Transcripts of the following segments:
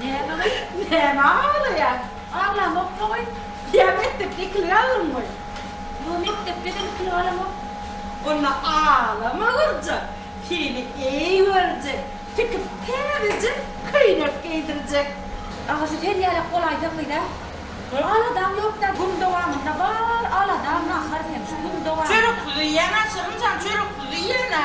Näme gyz, nämä aglaýaň? Aglamok-da goý. Ýa mekdepde ikili galdyň goý? Ýo, mekdepde hem ikili galamok. Onda aglama gyrja, seni eý görjek, tikip täzeje köýnek geýdirjek. Agasy sen ýalak bolaýsa gyz-a. Aladam ýok-da, gün dowamynda bar aladam nahar hem şu gün dowamynda. Çöreksuzy iýen-a, Şirinjan, çöreksuzy iýen-a.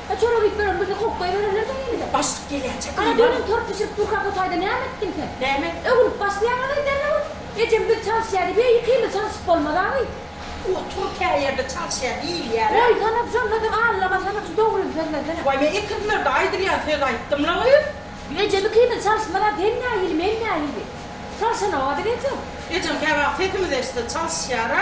A çorap iýip ýören bizi kowup goýbererler sen indi-de. Başlyk gelýänçä Ana düýnem torp bişirip durka bu taýda näme etdiň sen? Näme etdim? Öwrüp başlaýaň ony däne bolup. Ejem biz çalyşýa diýýä iki ýyl çalyşyp bolmaz awy. Otur käýerde çalyşýa diýilýär-ä. Goýsana şonda-da allamasana şu dogryny sözlesene. Waý men iki ýyllarda aýdylýan söz aýtdym-la gyz. Ejem iki ýyl çalyşmaz-a sen nähili men nähili. Çalyşanok-a biz ejem. Ejem käwagt sesimizi eşitse çalyşýar-a.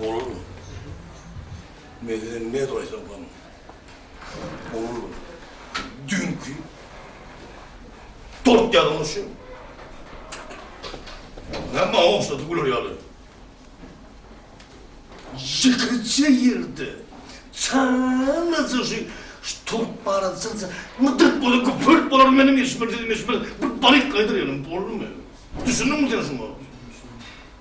Ogul Mehriň ne goýsa goýsun. Ogul düýnki dört ýazmyşy ne maňa ogşady güler ýaly. Ýekeje ýerde çalaja şu dört bala çyksa mydyrt bolar, güpürt bolar meniň eşmersizim eşmersiz bir balyk gaýdyr ýaly. Boldumy? Düşündiňmi sen şuňa?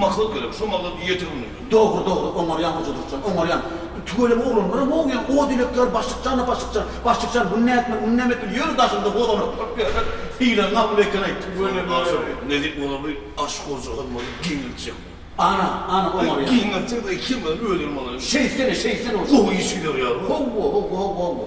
Maksat gerek, şo maksat ýeterin diýdi. Dogry, dogry, oňarýan Hoja Durkjan, oňarýan. Tüweleme oglan, bir mowyan, o dilekler başlyk jana, başlyk jan, başlyk jan, bunu nätmeli, muny näme etmeli, ýöri daşymda hozanap durup ýörler, hile gabyl eken aýt. Soň daşym, Nezip mula bir aş goja hyzmaty giňeltjek bu. Ana, ana, oňarýan. Giňeltjek-de, iki ýyldan öýlenip alaýyn. Şeýtsene, şeýtsene, gowy iş gider ýaly. Howwa, howwa, howwa, howwa.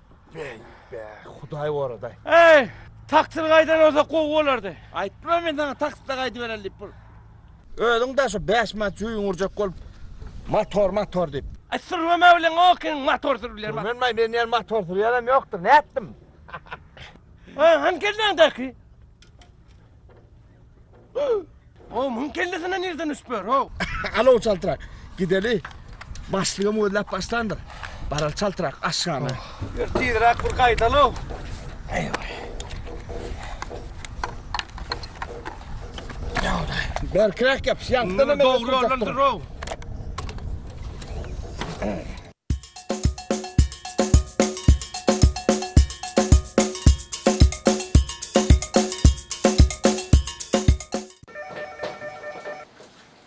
Bäý, bäý, Hudaý goraday. Eý, taksyr gaýdan bolsa gowy bolardy. Aýtdym-a men saňa takside gaýdybereli diýip bir. Özüň daşa bäş manat jüýüňi urjak bolup, motor, motor diýip. Aý, sürmeme bilen okyň, motor sürüp bilerim. Sürmenmaý, men ýene motor sürýänem ýokdur, nätdim? Aý, hany kelläňdäki? O muň kellesine nirden düşüp ber o? Alo çaltrak. Gideli. Başlygym gözläp başlandyr. Baral çaltrak aşgana. Bir tizrak bir gaýdalo. Eýwa. Ýa-da. Berkräk ýap, ýapdan hem dogry ýoldan dur o.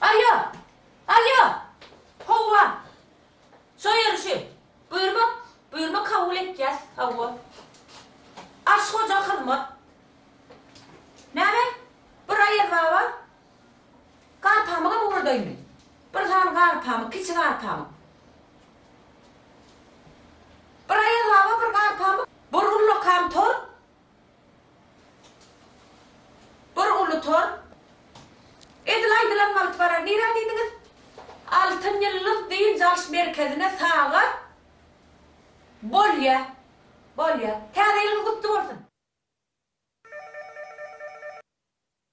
Alýo! Alýo! Howwa! Soýerişi! Buýurma! Buýurma kabul etýäs! Hawwa! Aşyk hoja hyzmat! Näme? Bir aýazbaba Garpamygam ugradaýmy? Bir sany garpamyk, kiçi garpamyk. Bir Aýaz baba bir garpamyk, bir ullakan tor, bir uly tor. Edil aýdylan wagt barar. Nirä diýdiňiz? Altyn ýyldyz dynç alyş merkezine sagat. Bolýa. Bolýa. Täze ýylyňyz gutly bolsun!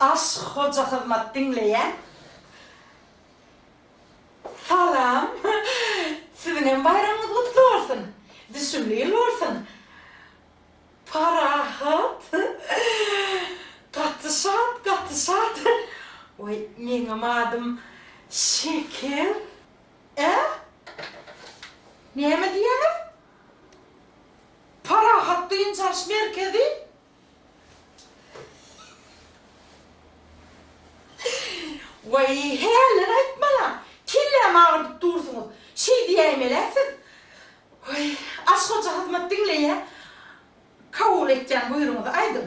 Aşk hoja hyzmat diňleýän Salam siziňem baýramyňyz gutly bolsun düşümli ýyl bolsun Parahat gaty şat gaty şat Oý meňňem adym Şeker. Ä? Näme diýýäňiz? Parahat dynç alyş merkezi? Waý, hälini aýtmalaň, kellämi agyrdyp dursuňyz. Şeý diýäýmel-ä siz. Waý, Aşyk hoja hyzmat diňleýä. Kabul etýän buýrugyňyzy aýdyň.